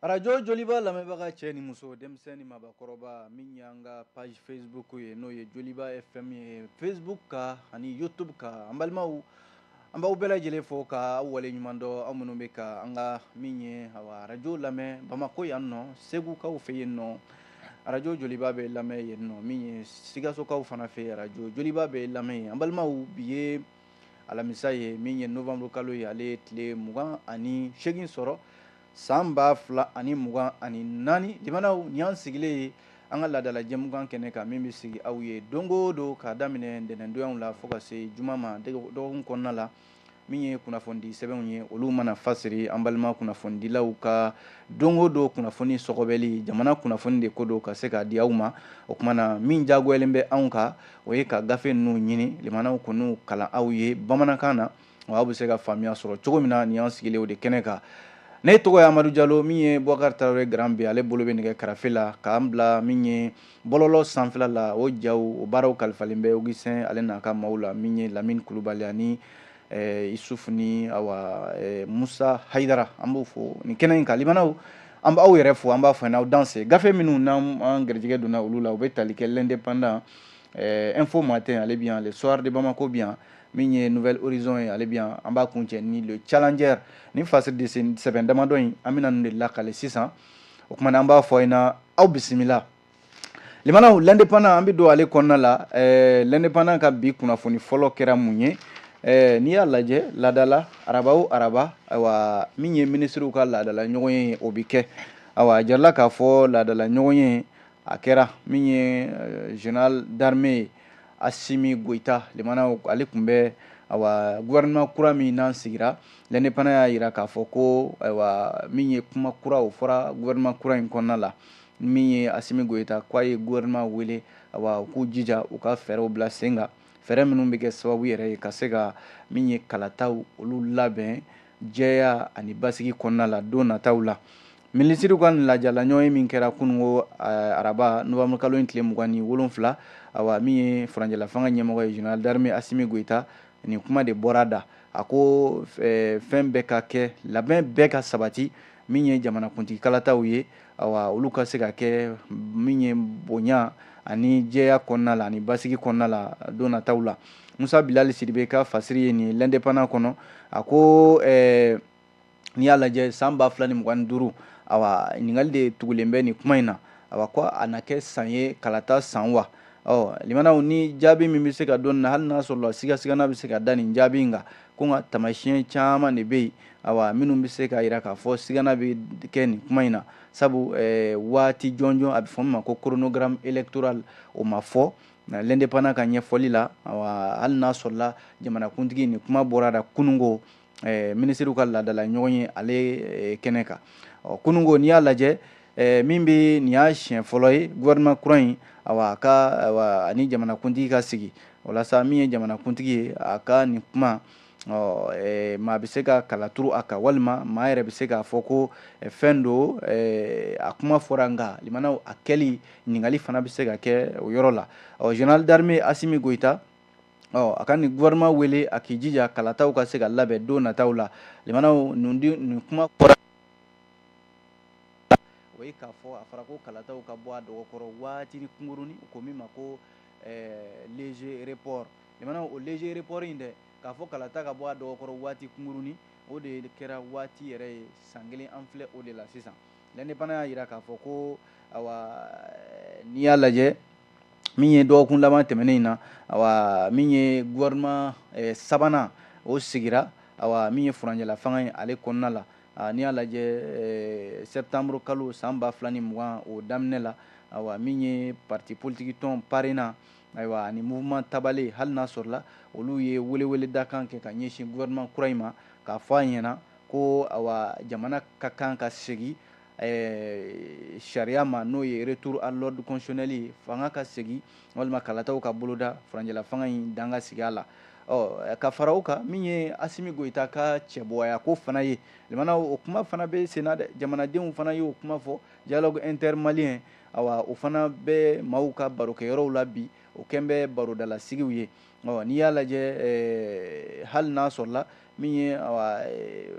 Arajo joliba lamɛnbaga cɛ ni muso denmisɛn ni mabakɔrɔba min y'an ka page facebook ye n'o ye joliba fm ye facebook kan ani youtube kan an balimaw an b'aw bɛɛ lajɛlen fo ka aw waleɲumandɔn aw minnu bɛ ka an ka min ye arajo lamɛn bamako yan nɔ segukaw fɛ yen nɔ arajo joliba bɛ lamɛn yen nɔ min ye sikasokaw fana fɛ arajo joliba bɛ lamɛn yen an balimaw bi ye alamisa ye min ye nowanburukalo ye ale tile mugan ani segin sɔrɔ San ba fila ani mugan ani naani limanaw ni y'an sigilen ye an ka laadadala jɛmukan kɛnɛ kan min bɛ sigi aw ye don o don k'a daminɛ ntɛnɛndonya la fo ka se juma ma dɔgɔkun kɔnɔna la min ye kunnafonidi sɛbɛnw ye olu mana fasiri an balima kunnafonidilaw ka don o don kunnafoni sɔgɔbɛli jamana kunnafoni de ko don ka se k'a di aw ma o kumana min diyagoyalen bɛ anw kan o ye ka gafe ninnu ɲini limanaw k'u kalan aw ye bamanankan na wa aw bɛ se ka faamuya sɔrɔ cogo min na nin y'an sigilen o de kɛnɛ kan ne tɔgɔ ye amadu jalo min ye bɔkari tarawele Grand B ale bolo bɛ nɛgɛ karafe la k'an bila min ye bɔlɔlɔ sanfɛla la o ja o baaraw kalifalen bɛ usɛn ale n'a ka maaw la min ye lamini kulubali ani eh, isuf ni awa eh, musa hayidara an b'o fo nin kɛnɛ in kan limanaw an b'aw yɛrɛ fo an b'a fɔ n'aw danse gafe minnu n'an garijɛgɛ donna olu la u bɛ tali kɛ l'indépendant eh, info matin ale bi yan le soir de bamako bi yan min ye nouvel horizon ye ale bi yan an b'a kuncɛ ni le challenger ni fasiri de sɛbɛn damadɔ in an bɛna ninnu de lakale sisan o kumana an b'a fɔ aw ɲɛna aw bisimila limanaw l'indépendant an bɛ don ale kɔnɔna la eh, l'indépendant ka bi kunnafoni fɔlɔ kɛra mun ye eh, n'i y'a lajɛ laadala araba o araba ayiwa min ye minisiriw ka laadala ɲɔgɔnye o bɛ kɛ ayiwa a jirala k'a fɔ laadala ɲɔgɔnye a kɛra min ye eh, général d'armée Asimi Goyita limanaw ale tun bɛ awa gouvernement kura min n'an sigira l'indépendant y'a jira k'a fɔ ko ayiwa min ye kuma kura o fɔra gouvernement kura in kɔnɔna la min ye Asimi Goyita k'a ye gouvernement wele awa u k'u jija u ka fɛɛrɛw bila sen kan fɛɛrɛ minnu bɛ kɛ sababu yɛrɛ ye ka se ka min ye kalataw olu labɛn jɛya ani basigi kɔnɔna la don nataw la minisiriw ka laadala ɲɔgɔnye min kɛra kununko eh, araba nowanburukalo in tile mugan ni wolonfila awa min ye furancɛlafanga ɲɛmɔgɔ ye général d'armée asimi goyita nin kuma de bɔra da a ko eh, fɛn bɛɛ ka kɛ labɛn bɛɛ ka sabati min ye jamanakuntigi kalataw ye olu ka se ka kɛ min ye bonya ani jɛya kɔnɔna la ani basigi kɔnɔna la don nataw la musa bilali sidibe ka fasiri ye nin l'indépendant kɔnɔ a ko n'i y'a lajɛ san ba fila ni mugan ni duuru awa ɲininkali de tugulen bɛ nin kuma in na awa ko a na kɛ san ye kalata san wa limanaw ni jaabi min bɛ se ka don na hali n'a sɔrɔla sigasiga bɛ se ka da nin jaabi in kan ko nka tamasiɲɛ caman de bɛ yen awa minnu bɛ se k'a jira k'a fɔ sigana bɛ kɛ nin kuma in na sabu waati jɔnjɔn a bɛ fɔ min ma ko chronogramme électoral o ma fɔ L'Indépendant ka ɲɛfɔli la awa hali n'a sɔrɔla jamanakuntigi nin kuma bɔra a da kununko minisiriw ka laadala ɲɔgɔnye ale kɛnɛ kan ɔ kununko n'i y'a lajɛ Ɛɛ min bɛ nin y'a siɲɛ fɔlɔ ye gouvernement kura in awa a ka awa a ni jamanakuntigi ka sigi walasa min ye jamanakuntigi ye a ka nin kuma ɔ ɛɛ maa bɛ se ka kala turu a kan walima maa yɛrɛ bɛ se k'a fɔ ko fɛn don ɛɛ a kuma fɔra nka limanaw a kɛli ɲininkali fana bɛ se ka kɛ o yɔrɔ la ɔ général d'armée Asimi Goyita ɔ a ka nin gouvernement wele a k'i jija kalataw ka se ka labɛn don nataw la limanaw nin kuma fɔra o ye k'a fɔ a fɔra ko kalataw ka bɔ a dɔgɔkɔrɔ waatinin kunkurunnin ko min ma ko léger report limanaw o léger report in dɛ k'a fɔ kalata ka bɔ a dɔgɔkɔrɔ waati kunkurunnin o de kɛra waati yɛrɛ ye san kelen an filɛ o de la sisan L'Indépendant y'a jira k'a fɔ ko awa n'i y'a lajɛ min ye dɔgɔkun laban tɛmɛnen in na ayiwa min ye gouvernement sabanan o sigira ayiwa min ye furancɛla fanga ye ale kɔnɔna la n'i y'a lajɛ sɛtanburu kalo san ba fila ni mugan o daminɛ la ayiwa min ye parti politiki tɔn PARENA ayiwa ani mouvement Tabalé hali n'a sɔrɔla olu ye welewele dakan kɛ ka ɲɛsin gouvernement kura in ma k'a fɔ a ɲɛna ko ayiwa jamana ka kan ka segin ɛɛ sariya ma n'o ye retour à l'ordre constitutionnel ye fanga ka segin walima kalataw ka boloda furancɛla fanga in dan ka sigi a la ɔ ka fara o kan min ye Asimi Goyita ka cɛbɔya ko fana ye limanaw o kuma fana bɛ sen na dɛ jamanadenw fana y'o kuma fɔ dialogue intermalien awa o fana bɛ maaw ka barokɛyɔrɔw la bi o kɛn bɛ barodalasigiw ye ɔ n'i y'a lajɛ eh, hali n'a sɔrɔla min ye eh,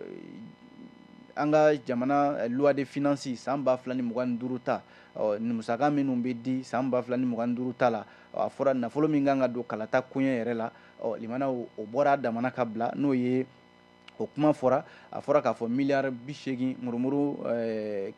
an ka jamana eh, loi de finance san ba fila ni mugan ni duuru ta ɔ nin musaka minnu bɛ di san ba fila ni mugan ni duuru ta la a fɔra nafolo min ka kan ka don kalata koɲɛ yɛrɛ la ɔ limana o bɔra a damana ka bila n'o ye o kuma fɔra a fɔra k'a fɔ miliyari bi seegin murumuru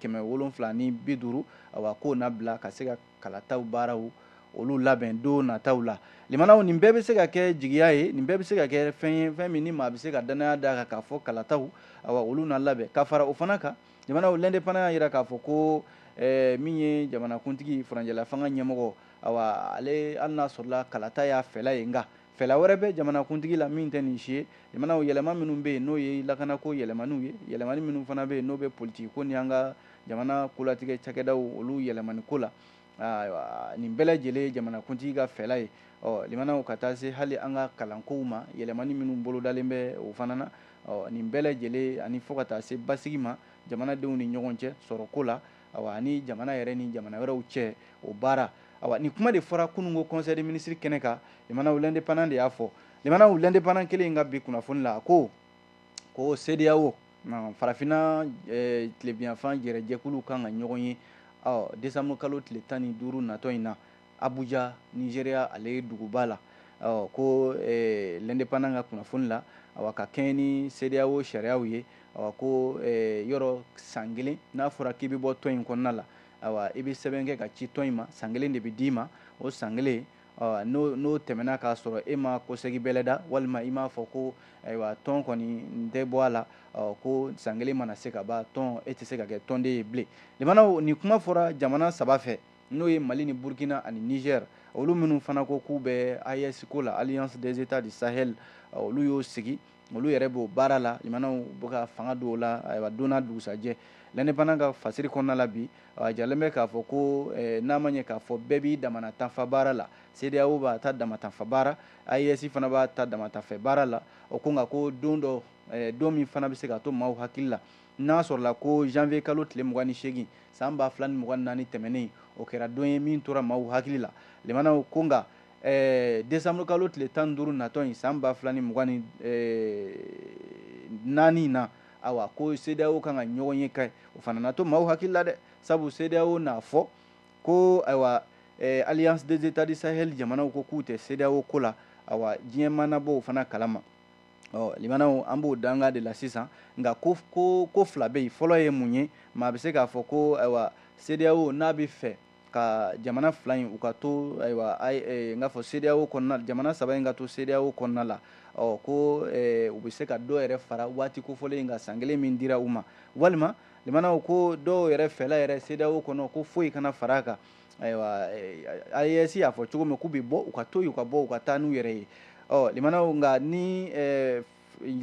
kɛmɛ wolonfila ni bi duuru awa k'o na bila ka se ka kalataw baaraw olu labɛn don nataw la limanaw nin bɛɛ bɛ se ka kɛ jigiya ye nin bɛɛ bɛ se ka kɛ fɛn ye fɛn min ni maa bɛ se ka dannaya d'a kan k'a fɔ kalataw awa olu na labɛn ka fara o fana kan limanaw L'Indépendant y'a jira k'a fɔ ko eh, min ye jamanakuntigi furancɛla fanga ɲɛmɔgɔ awa ale hali n'a sɔrɔla kalata y'a fɛla ye nka Fɛla wɛrɛ bɛ jamanakuntigi la min tɛ nin si ye limanaw yɛlɛma minnu bɛ yen n'o ye lakanako yɛlɛmaniw ye yɛlɛmani minnu fana bɛ yen n'o bɛ politigi ko ni an ka jamana kolatigɛ cakɛdaw olu yɛlɛmani ko la ayiwa nin bɛɛ lajɛlen ye jamanakuntigi ka fɛla ye ɔ limanaw ka taa se hali an ka kalankow ma yɛlɛmani minnu bolodalen bɛ o fana na ɔ nin bɛɛ lajɛlen ani fo ka taa se basigi ma jamanadenw ni ɲɔgɔn cɛ sɔrɔko la awa ani jamana yɛrɛ ni jamana wɛrɛw cɛ o baara awa ni kuma de fɔra kunungo conseil des ministres kɛnɛ kan limanaw l'indépendant de y'a fɔ limanaw l'indépendant kelen in ka bi kunnafoni la a ko ko CEDEAO farafinna eh, tilebinyanfan jɛrɛjɛkulu kan ka ɲɔgɔn ye ɔ décembre kalo tile tan ni duuru natɔ in na Abuja Nigeria ale duguba la ko l'indépendant ka kunnafoni la a ka kɛɲɛ ni CEDEAO sariyaw ye a ko yɔrɔ san kelen n'a fɔra k'i bɛ bɔ tɔn in kɔnɔna la i bɛ sɛbɛn kɛ ka ci tɔn in ma san kelen de bɛ d'i ma o san kelen n'o tɛmɛna k'a sɔrɔ e ma kɔsegi bɛlɛda walima i m'a fɔ ko ayiwa tɔn kɔni n tɛ bɔ a la ko san kelen mana se ka ban tɔn e tɛ se ka kɛ tɔnden ye bilen nin kuma fɔra jamana saba fɛ n'o ye Mali ni Burkina ani Niger olu minnu fana ko k'u bɛ AES ko la Alliance des Etats du Sahel olu y'o sigi olu yɛrɛ b'o baara la limanaw bɛ ka fanga don o la ayiwa don n'a dugusajɛ l'indépendant ka fasiri kɔnɔna la bi a jalen bɛ k'a fɔ ko eh, n'a ma ɲɛ k'a fɔ bɛɛ b'i damana ta fan baara la CEDEAO b'a ta dama ta fan baara AES fana b'a ta dama ta fan baara la o ko nka ko don dɔ eh, don min fana bɛ se ka to maaw hakili la n'a sɔrɔla ko janvier kalo tile mugan ni seegin san ba fila ni mugan naani tɛmɛnen o kɛra don ye min tora maaw hakili la limanaw ko nka eh, décembre kalo tile tan ni duuru natɔ in san ba fila ni mugan ni eh, naani na awa ko CEDEAO kan ka ɲɔgɔn ye ko o fana na to maaw hakili la dɛ sabu CEDEAO n'a fɔ ko ayiwa eh, alliance des états du sahel jamanaw ko k'u tɛ CEDEAO ko la awa diɲɛ maa na bɔ o fana kalama ɔ limanaw an b'o danga de la sisan nka ko ko ko fila bɛ yen fɔlɔ ye mun ye maa bɛ se k'a fɔ ko ayiwa CEDEAO n'a bɛ fɛ ka jamana fila in u ka to ayiwa n k'a fɔ CEDEAO kɔnɔna jamana saba in ka to CEDEAO kɔnɔna la ɔ ko u bɛ se ka dɔ yɛrɛ fara waati kofɔlen in kan san kelen min dira u ma walima limanaw ko dɔw yɛrɛ fɛla yɛrɛ CEDEAO kɔnɔ ko foyi kana fara a kan ayiwa AES y'a fɔ cogo min k'u bɛ bɔ u ka to yen u ka bɔ u ka taa n'u yɛrɛ ye ɔ limanaw nka ni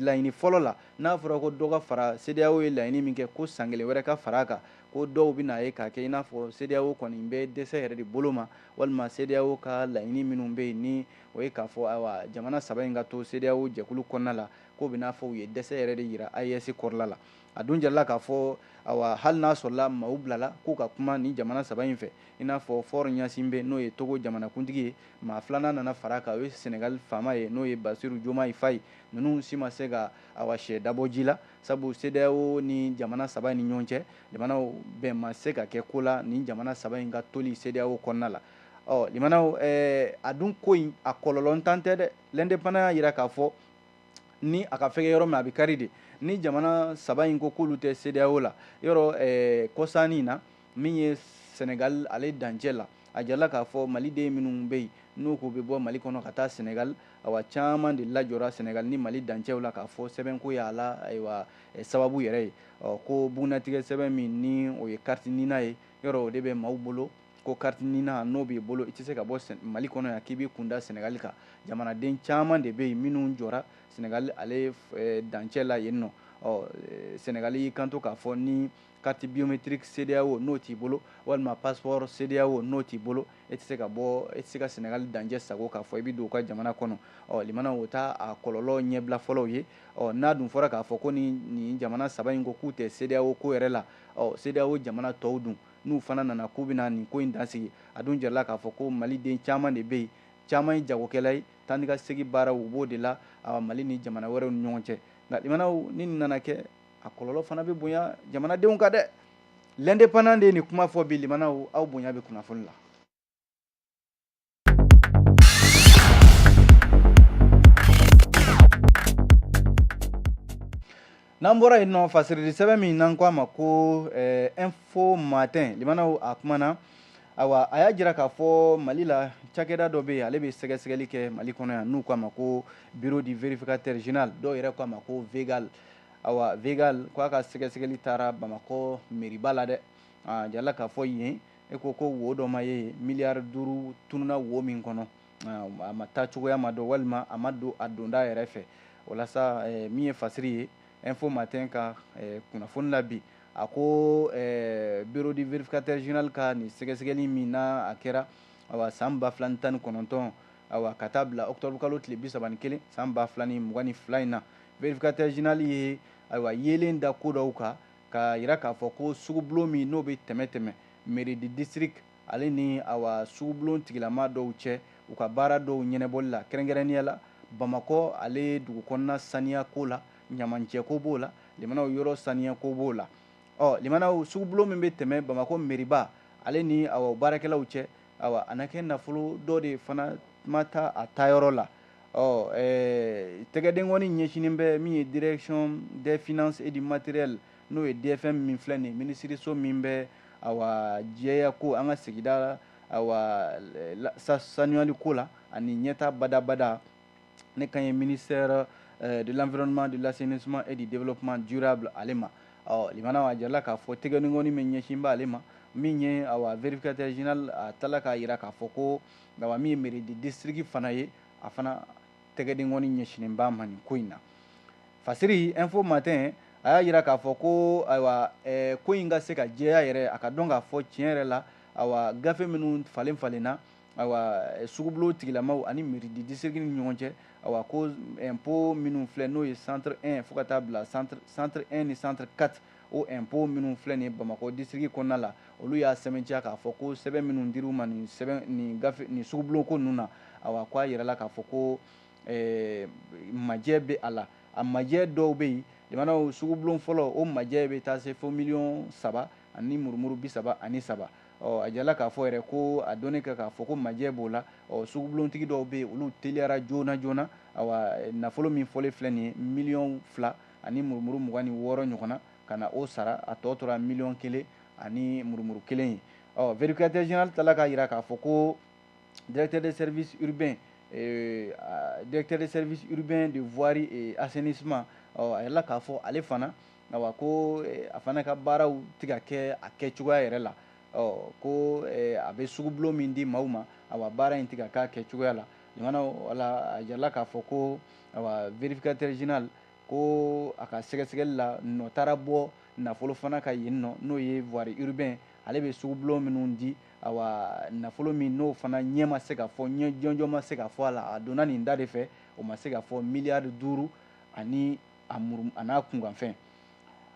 laɲini fɔlɔ la n'a fɔra ko dɔ ka fara CEDEAO ye laɲini min kɛ ko san kelen wɛrɛ ka fara a kan ko dɔw bɛ n'a ye k'a kɛ i n'a fɔ CEDEAO kɔni bɛ dɛsɛ yɛrɛ de bolo ma walima CEDEAO ka laɲini minnu bɛ yen ni o ye k'a fɔ ayiwa jamana saba in ka to CEDEAO jɛkulu kɔnɔna la k'o bɛ n'a fɔ u ye dɛsɛ yɛrɛ de yira AES kɔrɔla la a dun jarala k'a fɔ awa hali n'a sɔrɔla maaw bilala k'u ka kuma nin jamana saba in fɛ i n'a fɔ fɔr ɲasinbe n'o ye togo jamanakuntigi ye maa filanan nana fara a kan o ye senegali faama ye n'o ye basiru jomayi fayi ninnu si ma se ka awa sɛ dabɔ ji la sabu sedeyao ni jamana saba in ni ɲɔgɔn cɛ limanaw bɛn ma se ka kɛ ko la nin jamana saba in ka toli sedeyao kɔnɔna la ɔ limanaw a dun ko in a kɔlɔlɔ ntan tɛ dɛ l'indépendant y'a jira k'a fɔ ni a ka fɛgɛ yɔrɔ min a bɛ kari de ni jamana saba in ko k'olu tɛ CEDEAO la yɔrɔ eh, kɔsa nin na min ye Senegal ale dancɛ la a jarala k'a fɔ maliden minnu bɛ yen n'u k'u bɛ bɔ mali kɔnɔ ka taa senegal awa caman de lajɔra senegal ni mali dancɛw la k'a fɔ sɛbɛnko y'a la ayiwa eh, sababu yɛrɛ ye ko bugunnatigɛ sɛbɛn min ni o ye kariti nina ye yɔrɔ o de bɛ maaw bolo ko kati nina n'o b'i bolo i tɛ se ka bɔ mali kɔnɔ yan k'i b'i kunda sɛnɛgali kan jamanaden caman de bɛ yen minnu jɔra sɛnɛgali ale dancɛ la yen nɔ ɔ sɛnɛgali y'i kanto k'a fɔ ni kati biometiriki sedeyao n'o t'i bolo walima passeport sedeyao n'o t'i bolo e tɛ se ka bɔ e tɛ se ka sɛnɛgali dancɛ sago k'a fɔ i bɛ don u ka jamana kɔnɔ ɔ limanaw o t'a kɔlɔlɔ ɲɛbila fɔlɔw ye ɔ n'a dun fɔra k'a fɔ ko ni nin jamana saba in ko k'u tɛ sedeyao ko yɛrɛ la ɔ sedeyao jamana tɔw dun n'u fana nana k'u bɛna nin ko in dansigi a dun jarala k'a fɔ ko maliden caman de bɛ yen caman ye jagokɛla ye taa ni ka segi baaraw u b'o de la awa mali ni jamana wɛrɛw ni ɲɔgɔn cɛ nka limanaw ni nin nana kɛ a kɔlɔlɔ fana bɛ bonya jamanadenw kan dɛ l'indépendant de ye nin kuma fɔ bi limanaw aw bonya bɛ kunnafoni la n'an bɔra yen nɔ fasirili sɛbɛn min n'an ko a ma ko eh, info matin limanaw a kumana awa a y'a jira k'a fɔ mali la cakɛda dɔ bɛ yen ale bɛ sɛgɛsɛgɛli kɛ mali kɔnɔ yan n'u k'a ma ko bureau du vérificateur général dɔw yɛrɛ k'a ma ko vegal awa vegal k'a ka sɛgɛsɛgɛli taara bamakɔ meriba la dɛ a jarala k'a fɔ yen E ko ko wo dɔ ma ye miliyari duuru tununna wo min kɔnɔ a ma taa cogoya ma dɔn walima a ma don a donda yɛrɛ fɛ walasa min ye fasiri ye info matin ka kunnafoni la bi a ko bureau du vérificateur général ka nin sɛgɛsɛgɛli min na a kɛra a san ba fila ni tan ni kɔnɔntɔn awa ka taa bila octobre kalo tile bi saba ni kelen san ba fila ni mugan ni fila in na vérificateur général ye ayiwa yeelen da ko dɔw kan k'a jira k'a fɔ ko sugubulon min n'o bɛ tɛmɛ tɛmɛ mairie du district ale ni awa sugubulon tigilama dɔw cɛ u ka baara dɔw ɲɛnabɔli la kɛrɛnkɛrɛnnenya la bamakɔ ale dugu kɔnɔna saniya ko la ɲamancɛko b'o la limanaw yɔrɔ saniyako b'o la ɔ limanaw sugubulon min bɛ tɛmɛ bamakɔ meriba ale ni awa baarakɛlaw cɛ awa a na kɛ nafolo dɔ de fana ma taa a taayɔrɔ la ɔ ɛɛ tɛgɛdenkɔni ɲɛsinnen bɛ min ye direction des finances et du matériel n'o ye DFM min filɛ nin ye minisiriso min bɛ awa jɛya ko an ka sigida awa sanuyali ko la ani ɲɛta badabada ne kan ye ministère euh, de l'environnement de l'assainissement et du développement durable ale ma ɔ limanaw a jirala k'a fɔ tɛgɛdenkɔni min ɲɛsinnen b'ale ma min ye awa vérificateur général a tilala k'a jira k'a fɔ ko awa min ye mairie de district fana ye a fana tɛgɛdenkɔni ɲɛsinnen b'a ma nin ko in na fasiri info matin a y'a jira k'a fɔ ko ayiwa eh, ko in ka se ka jɛya yɛrɛ a ka dɔn k'a fɔ tiɲɛ yɛrɛ la awa gafe minnu falen falenna ayiwa eh, sugubulon tigilamaw ani mairie de district ni ɲɔgɔn cɛ awa ko eh, impôt minnu filɛ n'o ye centre 1 fo ka taa bila centre centre 1 ni centre 4 O impôt minnu filɛ nin ye Bamakɔ district kɔnɔna la, olu y'a sɛmɛntiya k'a fɔ ko sɛbɛn minnu dir'u ma nin sugubulon ko ninnu na, awa ko a jirala k'a fɔ ko majɛ bɛ a la. A majɛ dɔw bɛ yen, limanaw sugubulon fɔlɔ, o majɛ bɛ taa se fo miliyɔn saba ani murumuru bi saba ani saba. Ɔ a jirala k'a fɔ yɛrɛ ko a dɔnnen kɛ k'a fɔ ko majɛ b'o la, ɔ sugubulontigi dɔw bɛ yen, olu teliyara joona joona, awa nafolo min fɔlen filɛ nin ye miliyɔn fila ani murumuru mugan ni wɔɔrɔ ɲɔgɔnna ka na o sara a tɔ tora miliyɔn kelen ani murumuru kelen ye ɔ vérificateur général tilala k'a jira k'a fɔ ko directeur de service urbain euh, directeur des services urbains de voirie et assainissement ɔ a jirala k'a fɔ ale fana awa ko eh, a fana ka baaraw tɛ ka kɛ a kɛcogoya yɛrɛ la ɔ ko eh, a bɛ sugubulon min di maaw ma awa baara in tɛ ka k'a kɛcogoya la limanaw wala a jirala k'a fɔ ko awa vérificateur général ko a ka sɛgɛsɛgɛli la n'o taara bɔ nafolo fana kan yen nɔ n'o ye voirie urbain ale bɛ sugubulon minnu di awa nafolo min n'o fana ɲɛ ma se ka fɔ ɲɛ jɔnjɔn ma se ka fɔ a la a donna nin da de fɛ o ma se ka fɔ miliyari duuru ani a muru a n'a kunkanfɛn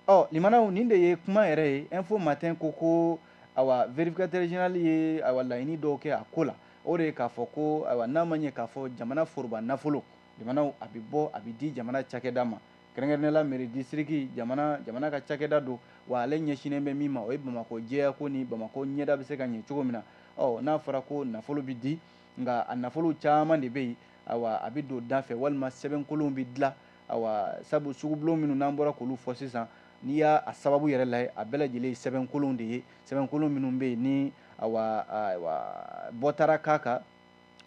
ɔ limanaw nin de ye kuma yɛrɛ ye info matin ko ko awa vérificateur général ye awa laɲini dɔw kɛ a ko la o de ye k'a fɔ ko awa n'a ma ɲɛ k'a fɔ jamana foroba nafolo limanaw a bɛ bɔ a bɛ di jamana cakɛda ma kɛrɛnkɛrɛnnenya la mairie district jamana jamana ka cakɛda don wa ale ɲɛsinnen bɛ min ma o ye bamakɔ jɛya ko ni bamakɔ ɲɛda bɛ se ka ɲɛ cogo min na ɔ n'a fɔra ko nafolo bɛ di nka a nafolo caman de bɛ yen awa a bɛ don da fɛ walima sɛbɛnkolonw bɛ dilan awa sabu sugubulon minnu n'an bɔra k'olu fɔ sisan n'i y'a a sababu yɛrɛ lajɛ a bɛɛ lajɛlen ye sɛbɛnkolon de ye sɛbɛnkolon minnu bɛ yen ni awa bɔ taara k'a kan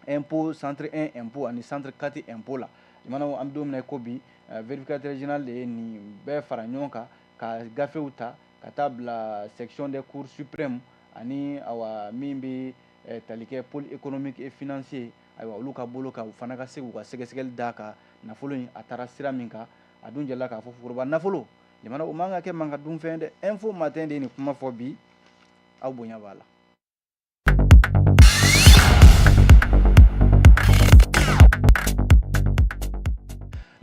impôt centre un impôt ani centre quatre impôt la jamana an bɛ don min na i ko bi vérificateur général de ye nin bɛɛ fara ɲɔgɔn kan ka gafew ta ka taa bila section des cour suprême ani awa min bɛ tali kɛ pôle économique et financier ye ayiwa olu ka bolo kan u fana ka se k'u ka sɛgɛsɛgɛli d'a kan nafolo in a taara sira min kan a dun jɛra k'a fɔ foroba nafolo jamanaw o man ka kɛ maa ka dunfɛn dɛ info matin de ye nin kuma fɔ bi aw bonya b'a la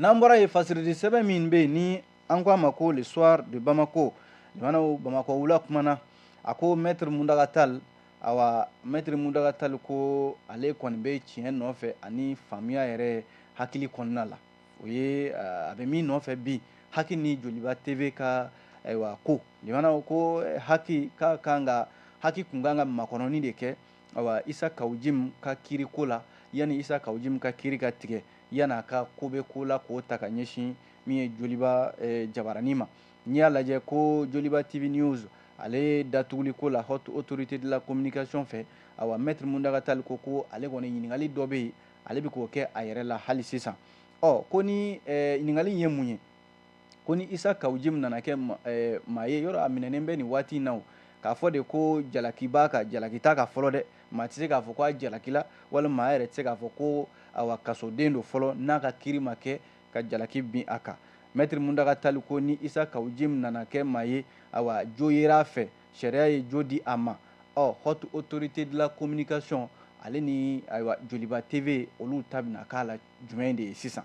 n'an bɔra yen fasiridi sɛbɛn min bɛ yen ni an ko a ma ko le soir de bamako jamanaw bamakɔ wula kumana a ko maître mountaga tall awa maître mountaga tall ko ale kɔni bɛ tiɲɛ nɔfɛ ani faamuya yɛrɛ hakili kɔnɔna la o ye a bɛ min nɔfɛ bi haki ni joliba tv ka ayiwa ko in na ko haki ka kan ka haki tun kan ka makɔnɔni de kɛ awa isa kawu jim ka kiri ko la yanni isa kawu jim ka kiri ka tigɛ yan a ka ko bɛ ko la k'o ta ka ɲɛsin min ye joliba jabaranin ma n'i y'a lajɛ ko joliba tv news ale datuguli ko la haute autorité de la communication fɛ awa maître mountaga tall ko ko ale kɔni ɲininkali dɔ bɛ yen ale bɛ k'o kɛ a yɛrɛ la hali sisan ɔ ko nin ɲininkali ye mun ye ko ni isa kawu jim nana kɛ maa ye yɔrɔ a minɛnen bɛ nin waati in na k'a fɔ de ko jalaki b'a kan jalaki t'a kan fɔlɔ dɛ maa tɛ se k'a fɔ k'a jalakila walima maa yɛrɛ tɛ se k'a fɔ ko awa kasoden don fɔlɔ n'a ka kiri ma kɛ ka jalaki bin a kan maître mountaga tall ko ni isa kawu jim nana kɛ maa ye awa jo yera a fɛ sariya ye jo di a ma ɔ haute autorité de la communication ale ni ayiwa joliba tv olu ta bɛna k'a la jumɛn de ye sisan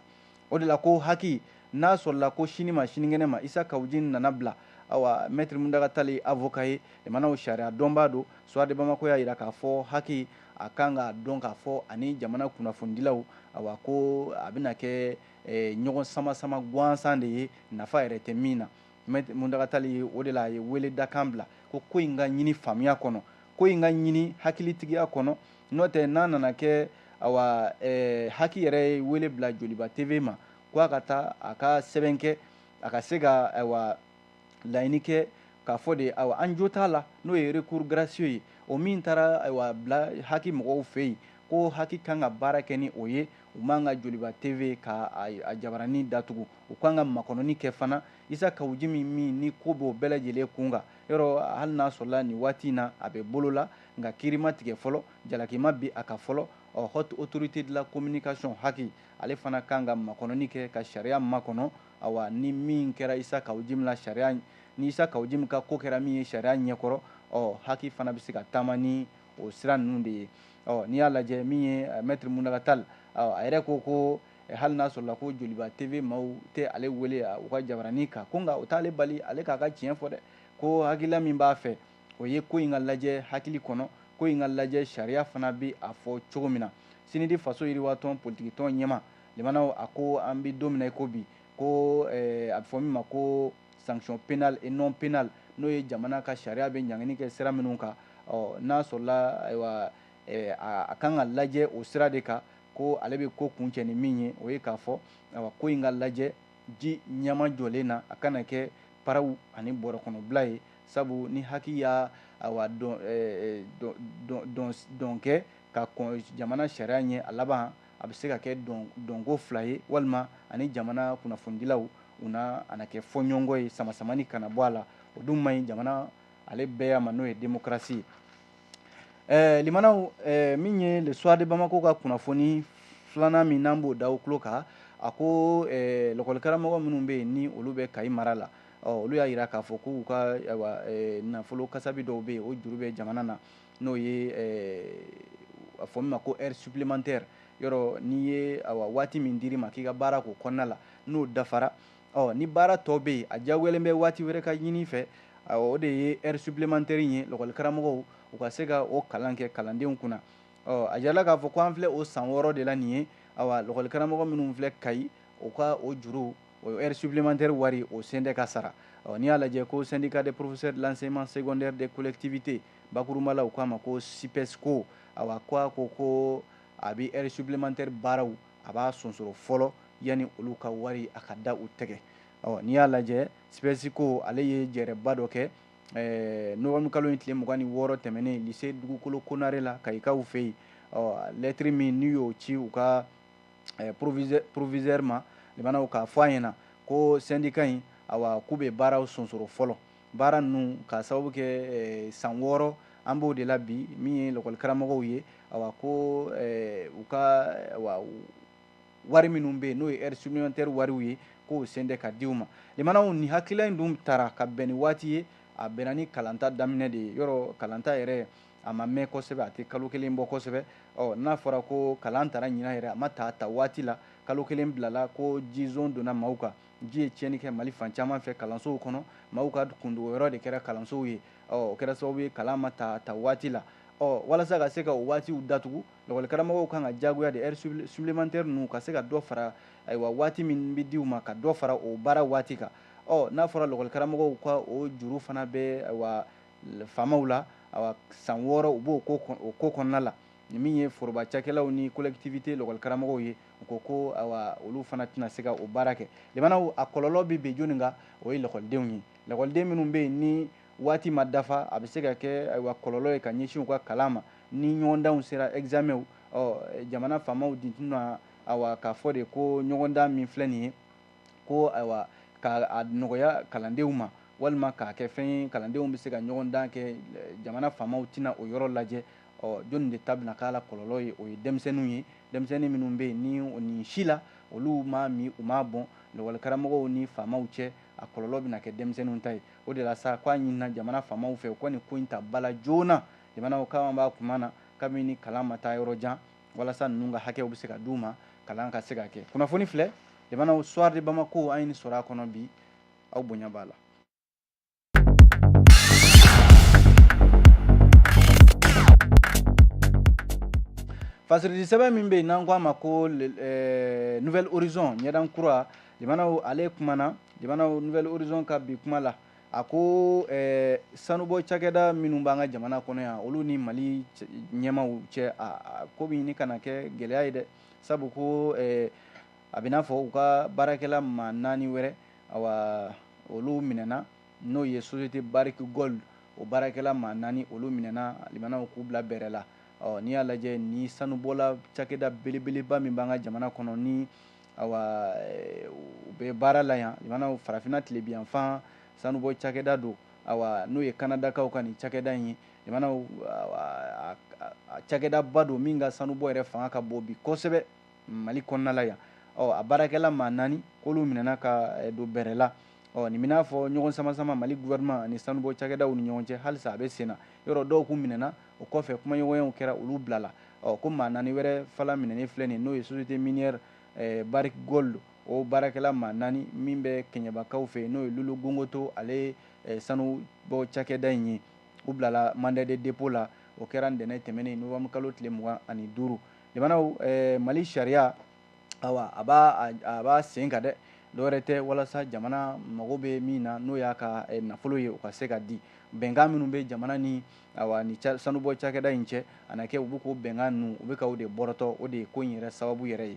o de la ko haki n'a sɔrɔla ko sini ma sinikɛnɛ ma isa kawu jim nana bila awa maître mountaga tall ye avocat ye jamanaw sariya dɔnbaa don soir de bamakɔ y'a jira k'a fɔ haki a kan k'a dɔn k'a fɔ ani jamana kunnafonidilaw awa ko a bɛna kɛ ɲɔgɔn sama sama gansan de ye nafa yɛrɛ tɛ min na Maître mountaga tall o de la a ye wele dakan bila ko ko in ka ɲini faamuya kɔnɔ ko in ka ɲini hakilitigiya kɔnɔ n'o tɛ n'a nana kɛ awa eh, haki yɛrɛ ye wele bila joliba tv ma ko a ka taa a ka sɛbɛn kɛ a ka se ka ayiwa laɲini kɛ k'a fɔ de awa an jo t'a la n'o ye recours gracieux ye o min taara awa bila haki mɔgɔw fɛ yen ko haki kan ka baara kɛ ni o ye u man ka joliba tv ka a jabaranin datugu u kan ka makɔnɔni kɛ fana isa kawu jim min ni ko b'o bɛɛ lajɛlen kun kan yɔrɔ hali n'a sɔrɔla nin waati in na a bɛ bolo la nka kiiri ma tigɛ fɔlɔ jalaki ma bin a kan fɔlɔ ɔ haute autorité de la communication haki ale fana kan ka makɔnɔni kɛ ka sariya makɔnɔ awa ni min kɛra isa kawu jim la sariya ni isa kawu jim ka ko kɛra min ye sariya ɲɛkɔrɔ ɔ haki fana bɛ se ka taama ni o sira ninnu de ye ɔ n'i y'a lajɛ min ye maître muntaga tall a yɛrɛ ko ko hali n'a sɔrɔla ko joliba tv maaw tɛ ale wele u ka jabaranin kan ko nka o t'ale bali ale k'a ka tiɲɛ fɔ dɛ ko hakilila min b'a fɛ o ye ko in ka lajɛ hakili kɔnɔ ko in ka lajɛ sariya fana bɛ a fɔ cogo min na sinidi faso yiriwatɔn politikitɔn ɲɛmaa limanaw a ko an bɛ don min na i ko bi ko eh, a bɛ fɔ min ma ko sanction pénale et non pénale n'o ye jamana ka sariya bɛ ɲangini kɛ sira minnu kan n'a sɔrɔla ayiwa Ɛɛ, a, a kan ka lajɛ o sira de kan ko ale bɛ ko kuncɛ ni min ye, o ye k'a fɔ awa, ko in ka lajɛ ji ɲɛmajɔlen na, a kana kɛ paraw ani bɔrɔkɔnɔbila ye, sabu ni haki y'a awa, dɔn kɛ ka kɔn jamana sariya ɲɛ, a laban a bɛ se ka kɛ dɔnko fila ye walima ani jamana kunnafonidilaw u na a na kɛ fɔɲɔgɔnkɔ ye, samasamani kana bɔ a la, o dun man ɲi jamana ale bɛɛya ma n'o ye demokarasi ye. w min ye le soir de bamako ka kunnafoni filanan min n'an b'o da aw tulo kan a ko lakɔlikaramɔgɔ minnu bɛ yen ni olu bɛ kayi mara la olu y'a jira k'a fɔ k'u ka nafolo kasabi dɔw bɛ yen o juru bɛ jamana na n'o ye a fɔ min ma ko heure supplémentaire yɔrɔ n'i ye waati min d'i ma k'i ka baara k'o kɔnɔna la n'o dafara ɔ ni baara tɔ bɛ yen a diyagoyalen bɛ waati wɛrɛ ka ɲini fɛ o de ye heure supplémentaire in ye lɔgɔlikaramɔgɔw u ka se ka o kalan kɛ kalandenw kunna ɔ a jirala k'a fɔ ko an filɛ o san wɔɔrɔ de la nin ye awa lɔgɔlikaramɔgɔ minnu filɛ kayi u ka o juru o heure supplémentaire wari o sen tɛ ka sara ɔ n'i y'a lajɛ ko syndicat des professeurs de l'enseignement secondaire des collectivités bakurunba la u k'a ma ko sipɛsiko awa ko a ko ko a bɛ heure supplémentaire baaraw a b'a sonsoro fɔlɔ yanni olu ka wari a ka da u tɛgɛ n'i y'a lajɛ sipɛsiko ale ye jɛrɛba dɔ kɛ nowanburukalo in tile mugan ni wɔɔrɔ tɛmɛnen lycée dugukolo konare la kayikaw fɛ yen lettre min n'u y'o ci u ka proviseur ma limanaw k'a fɔ a ɲɛ na ko syndicat in k'u bɛ baaraw sonsoro fɔlɔ baara ninnu k'a sababu kɛ san wɔɔrɔ an b'o de la bi min ye lakɔlikaramɔgɔw ye awa ko u ka wari minnu bɛ yen n'o ye heure supplémentaire wariw ye k'o sen de ka di u ma limanaw nin hakilila in dun tara ka bɛn ni waati ye a bɛnna ni kalanta daminɛ de ye yɔrɔ kalanta yɛrɛ a ma mɛn kosɛbɛ a tɛ kalo kelen bɔ kosɛbɛ ɔ n'a fɔra ko kalan tara ɲinan yɛrɛ a ma ta a ta waati la kalo kelen bilala ko jizo donna maaw kan ji ye tiɲɛni kɛ mali fan caman fɛ kalansow kɔnɔ maaw ka kundogo yɔrɔ de kɛra kalansow ye ɔ o kɛra sababu ye kalan ma ta ta waati la ɔ walasa ka se ka o waatiw datugu Lakɔlikaramɔgɔw kan ka diyagoya de heure supplémentaire ninnu ka se ka dɔ fara ayiwa waati min bɛ di u ma ka dɔ fara o baara waati kan ɔ n'a fɔra lakɔlikaramɔgɔw ka o juru fana bɛ faamaw la san wɔɔrɔ u b'o ko kɔnɔna la nin min ye foroba cakɛlaw ni collectivité lakɔlikaramɔgɔw ye u ko ko olu fana tɛna se ka o baara kɛ limanaw a kɔlɔlɔ bɛ bin jɔnni kan o ye lakɔlidenw ye lakɔliden minnu bɛ yen ni waati ma dafa a bɛ se ka kɛ ayiwa kɔlɔlɔ ye ka ɲɛsin u ka kalan ma ni ɲɔgɔndanw sera examenw ɔ jamana faamaw dun tɛna ayiwa k'a fɔ de ko ɲɔgɔndan min filɛ nin ye ko ayiwa ka a nɔgɔya kalandenw ma walima k'a kɛ fɛn ye kalandenw bɛ se ka ɲɔgɔndan kɛ jamana faamaw tɛna o yɔrɔ lajɛ ɔ jɔnni de ta bɛna k'a la kɔlɔlɔ ye o ye denmisɛnninw ye denmisɛnnin minnu bɛ yen ni o nin si la olu m'a min u m'a bɔn lakɔlikaramɔgɔw ni faamaw cɛ a kɔlɔlɔ bɛna kɛ denmisɛnninw ta ye o de la sa k'a ɲinina jamana faamaw fɛ u ka nin ko in ta ba la joona limanaw k'an b'a tuma na kabini kalan ma taa yɔrɔ jan walasa ninnu ka hakɛw bɛ se ka d' u ma kalan ka se ka kɛ kunnafoni filɛ limanaw soir de bamako an ye nin sɔrɔ a kɔnɔ bi aw bonya b'a la fasiridi sɛbɛn min bɛ yen n'an k'a ma ko nouvel horizon ɲɛdan kura limanaw ale kumana limanaw nouvel horizon ka bi kuma la a ko eh, sanubɔ cakɛda minnu b'an ka jamana kɔnɔ yan olu ni mali ɲɛmaw cɛ a ko bɛ ɲini ka na kɛ gɛlɛya ye dɛ sabu ko eh, a bɛ n'a fɔ u ka baarakɛla maa naani wɛrɛ awa olu minɛna n'o ye société barrick gold o baarakɛla maa naani olu minɛna limanaw k'u bila bɛrɛ la ɔ n'i y'a lajɛ ni sanubɔla cakɛda belebeleba min b'an ka jamana kɔnɔ ni awa eh, u bɛ baara la yan limanaw farafinna tilebinyanfan sanubɔ cakɛda don awa n'o ye kanadakaw ka nin cakɛda in ye limanaw cakɛdaba don min ka sanubɔ yɛrɛ fanga ka bon bi kosɛbɛ mali kɔnɔna la yan ɔ a baarakɛla maa naani k'olu minɛna ka eh, don bɛrɛ la ɔ nin bɛ n'a fɔ ɲɔgɔn samasama mali gouvernement ani sanubɔ cakɛdaw ni ɲɔgɔn cɛ halisa a bɛ sen na yɔrɔ dɔw k'u minɛna o kɔfɛ kumaɲɔgɔnyaw kɛra olu bilala ɔ ko maa naani wɛrɛ fana minɛnen filɛ nin n'o ye société minière eh, Barrick Gold o baarakɛla maa naani min bɛ kɛɲɛbakaw fɛ n'o ye Lulu Gongoto ale ye eh, sanubɔ cakɛda in ye u bilala mandat de dépôt la o kɛra ntɛnɛn tɛmɛnen novembre kalo tile mugan ani duuru limanaw eh, mali sariya awa a b'a a b'a sen kan dɛ dɔwɛrɛ tɛ walasa jamana mago bɛ min na n'o y'a ka eh, nafolo ye o ka se ka di bɛnkan minnu bɛ jamana ni awa ni ca sanubɔ cakɛda in cɛ a na kɛ u bɛ k'o bɛnkan ninnu u bɛ ka o de bɔrɔtɔ o de ye ko in yɛrɛ sababu yɛrɛ ye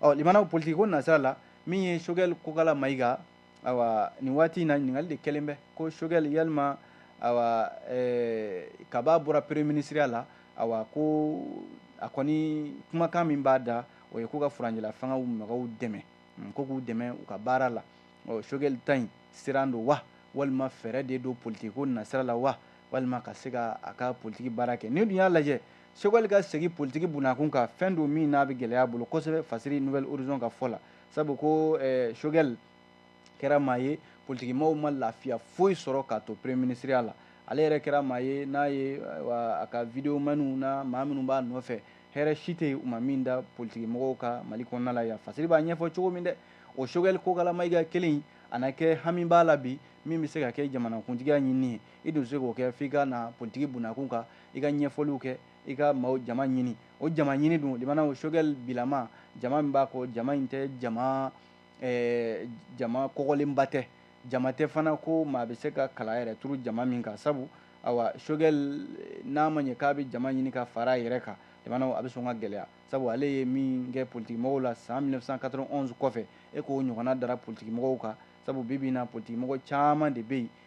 ɔ limanaw politiki ko nasira la min ye sogɛli kokala mayiga awa nin waati in na ɲininkali de kɛlen bɛ ko sogɛli yalima awa eh, kab'a bɔra premier ministeriya la awa ko a kɔni kumakan min b'a da o ye ko ka furancɛla fangaw mɔgɔw dɛmɛ hmm, ko k'u dɛmɛ u ka baara la ɔ sogɛli ta in siran don wa walima fɛɛrɛ de don politiki ko nasira la wa walima ka se ka a ka politiki baara kɛ n'i dun y'a lajɛ sogɛli ka segin politiki bunakun kan fɛn don min n'a bɛ gɛlɛya bolo kosɛbɛ fasiri nouvel horizon ka fɔ la sabu ko eh, sogɛli kɛra maa ye politikimɔgɔw ma lafiya foyi sɔrɔ k'a to premier ministeriya la ale yɛrɛ kɛra maa ye n'a ye a ka video maniw na maa minnu b'a nɔfɛ hɛrɛ si tɛ yen u ma min da politikimɔgɔw kan mali kɔnɔna la yan fasiri b'a ɲɛfɔ cogo min dɛ o sogɛli kokala mayiga kelen a na kɛ hami b'a la bi min bɛ se ka kɛ jamanakuntigiya ɲinini ye i dun se k'o kɛ f'i ka na politiki bunakun kan i ka ɲɛfɔliw kɛ i ka maaw jama ɲini o jama ɲini dun limanaw sogɛl bilama jama min b'a kɔ jama in tɛ jama eh, jama kɔgɔlenba tɛ jama tɛ fana ko maa bɛ se ka kala yɛrɛ turu jama min kan sabu awa sogɛl eh, n'a ma ɲɛ k'a bɛ jama ɲini ka fara a yɛrɛ kan limanaw a bɛ sɔn ka gɛlɛya sabu ale ye min kɛ politikimɔgɔw la san 1991 kɔfɛ e k'o ɲɔgɔnna dara politikimɔgɔw kan sabu bi bi in na politikimɔgɔ caman de bɛ yen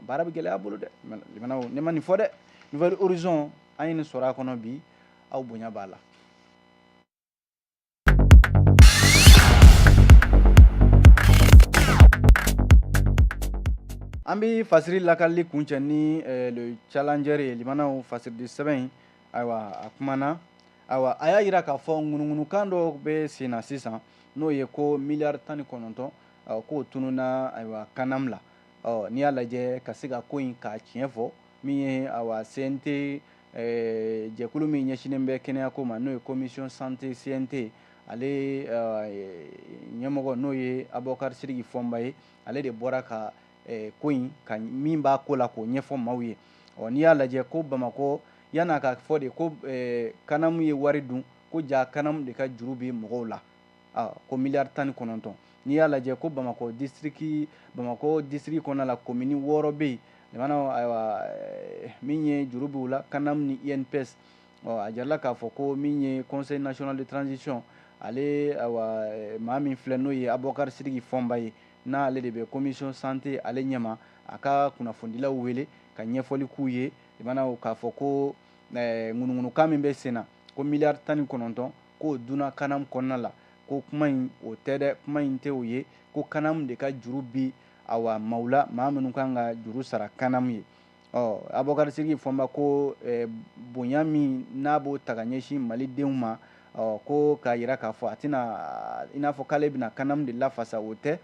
baara bɛ gɛlɛya bolo dɛ limanaw ne ma nin fɔ dɛ nouvel horizon an ye nin sɔrɔ a kɔnɔ bi aw bonya b'a la an bɛ fasiri lakalili kuncɛ ni eh, le challenger ye limanaw fasiridi sɛbɛn in ayiwa a kumana ayiwa a y'a yira k'a fɔ ŋunuŋunukan dɔ bɛ sen na sisan n'o ye ko miliyari tan ni kɔnɔntɔn k'o tununna ayiwa kanam la ɔ n'i y'a lajɛ ka se ka ko in ka tiɲɛ fɔ min ye awa CNT eh, jɛkulu min ɲɛsinen bɛ kɛnɛyako ma n'o ye commission santé CNT ale eh, ɲɛmɔgɔ n'o ye abɔkari siriki fɔnba ye ale de bɔra ka eh, ko in ka min b'a ko la k'o ɲɛfɔ maaw ye ɔ n'i y'a lajɛ ko bamakɔ yan'a ka fɔ de ko kanamu ye wari dun ko ja kanamu de ka juru bɛ mɔgɔw la ah, ko miliyari tan ni kɔnɔntɔn n'i y'a lajɛ ko bamakɔ disiriki bamakɔ disiriki kɔnɔna la komini wɔɔrɔ bɛ yen limana ayiwa eh, min ye juru b'u la kanam ni inps ɔ a jirala k'a fɔ ko min ye conseil national de transition ale ayiwa eh, maa min filɛ n'o ye abubakar sidiki fɔnba ye n'ale de bɛ commission santé ale ɲɛma a ka kunnafonidilaw wele ka ɲɛfɔli k'u ye limana k'a fɔ ko eh, ŋunuŋunukan min bɛ sen na ko miliyari tan ni kɔnɔntɔn k'o dunna kanam kɔnɔna la ko kuma in o tɛ dɛ kuma in tɛ o ye ko kanam de ka juru bi awa maaw la maa minnu kan ka juru sara kanam ye ɔ abubakar sidiki fɔnba ko eh, bonya min n'a b'o ta ka ɲɛsin malidenw ma ɔ ko k'a yira k'a fɔ a tɛna i n'a fɔ k'ale bɛna kanam de lafasa o tɛ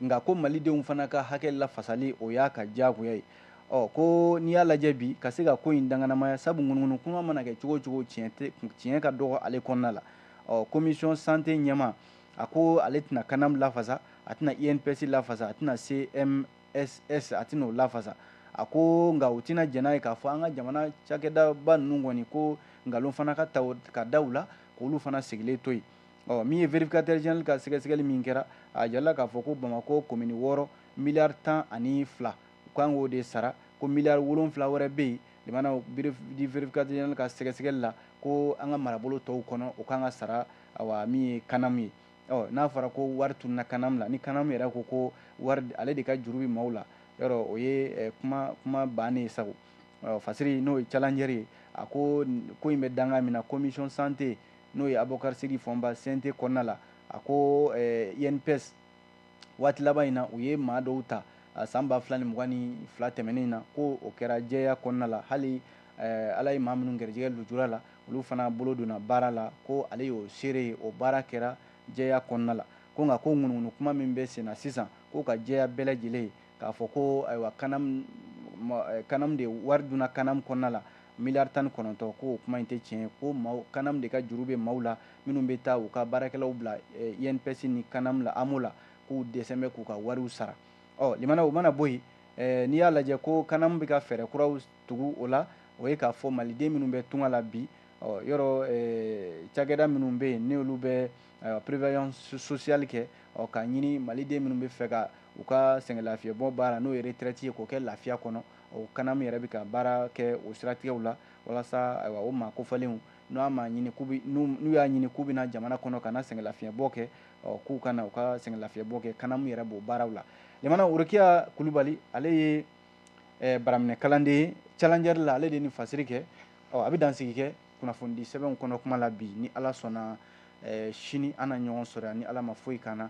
nka ko malidenw fana ka hakɛ lafasali o y'a ka diyagoya ye ɔ ko n'i y'a lajɛ bi ka se ka ko in danganamaya sabu ŋunuŋunu kuma mana kɛ cogo o cogo tiɲɛ ka dɔgɔ ale kɔnɔna la ɔ commission santé ɲɛmaa ko ale tɛna kanam lafasa a tɛna inps lafasa a tɛna cmss a tɛna o lafasa a ko nka u tɛna jɛn n'a ye k'a fɔ an ka jamana cakɛdaba ninnu kɔni ko nkalon fana ka ka da u la k'olu fana sigilen to yen ɔ min ye vérificateur général ka sɛgɛsɛgɛli min kɛra a jirala k'a fɔ ko bamakɔ komini wɔɔrɔ miliyari tan ani fila u kan k'o de sara ko miliyari wolonfila wɛrɛ bɛ yen limana vérificateur général ka sɛgɛsɛgɛli la ko an ka marabolo tɔw kɔnɔ o kan ka sara awa min ye kanamu ye ɔ n'a fɔra ko wari tununna kanamu la ni kanamu yɛrɛ ko ko wari ale de ka juru bɛ maaw la yɔrɔ o ye eh, kuma kuma bannen ye sago fasiri n'o ye challenger ye a ko ko in bɛ danga min na commission santé n'o ye Abubakari Sidiki Fɔnba CNT kɔnɔna la, a ko INPS waati laban in na u ye maa dɔw ta san ba fila ni mugan ni fila tɛmɛnen in na ko o kɛra jɛya kɔnɔna la hali Ala ye maa minnu garijɛgɛ lujura la olu fana bolo donna baara la ko ale y'o seere ye o baara kɛra jɛya kɔnɔna la ko nka ko ŋunuŋunu kuma min bɛ senna sisan k'o ka jɛya bɛɛ lajɛlen k'a fɔ ko ayiwa kanam eh, kanam de wari dunna kanam kɔnɔna la miliyari tan ni kɔnɔntɔn ko o kuma in tɛ tiɲɛ ko kanam de ka juru bɛ maaw la minnu bɛ taa u ka baarakɛlaw bila eh, inps ni kanam la amo la k'u dɛsɛn bɛ k'u ka wariw sara ɔ limana o mana bɔ yen eh, n'i y'a lajɛ ko kanam bɛ ka fɛɛrɛ kuraw tugu o la o ye k'a fɔ maliden minnu bɛ tunga la bi ɔ yɔrɔ eh, cakɛda minnu bɛ yen n'olu bɛ eh, prévoyance sociale kɛ ɔ k'a ɲini maliden minnu bɛ fɛ ka u ka sɛgɛn lafiɲɛ bɔ baara n'o ye retraite ye k'o kɛ lafiya kɔnɔ, o kanamu yɛrɛ bɛ ka baara kɛ o siratigɛw la walasa ayiwa o maa kofalenw n'a ma ɲini k'u bɛ n'u y'a ɲini k'u bɛna jamana kɔnɔ ka na sɛgɛn lafiɲɛ bɔ kɛ ɔ k'u ka na u ka sɛgɛn lafiɲɛ bɔ kɛ kanamu yɛrɛ b'o baaraw la ɲamana worokiya kulubali ale ye eh, baraminɛ kalanden ye challenger la ale de ye nin fasiri kɛ ɔ an bɛ dansigi kɛ kunnafonidi sɛbɛnw kɔnɔ kuma la bi ni ala sɔnna eh, sini an na ɲɔgɔn sɔrɔ yan ni ala ma foyi k'an na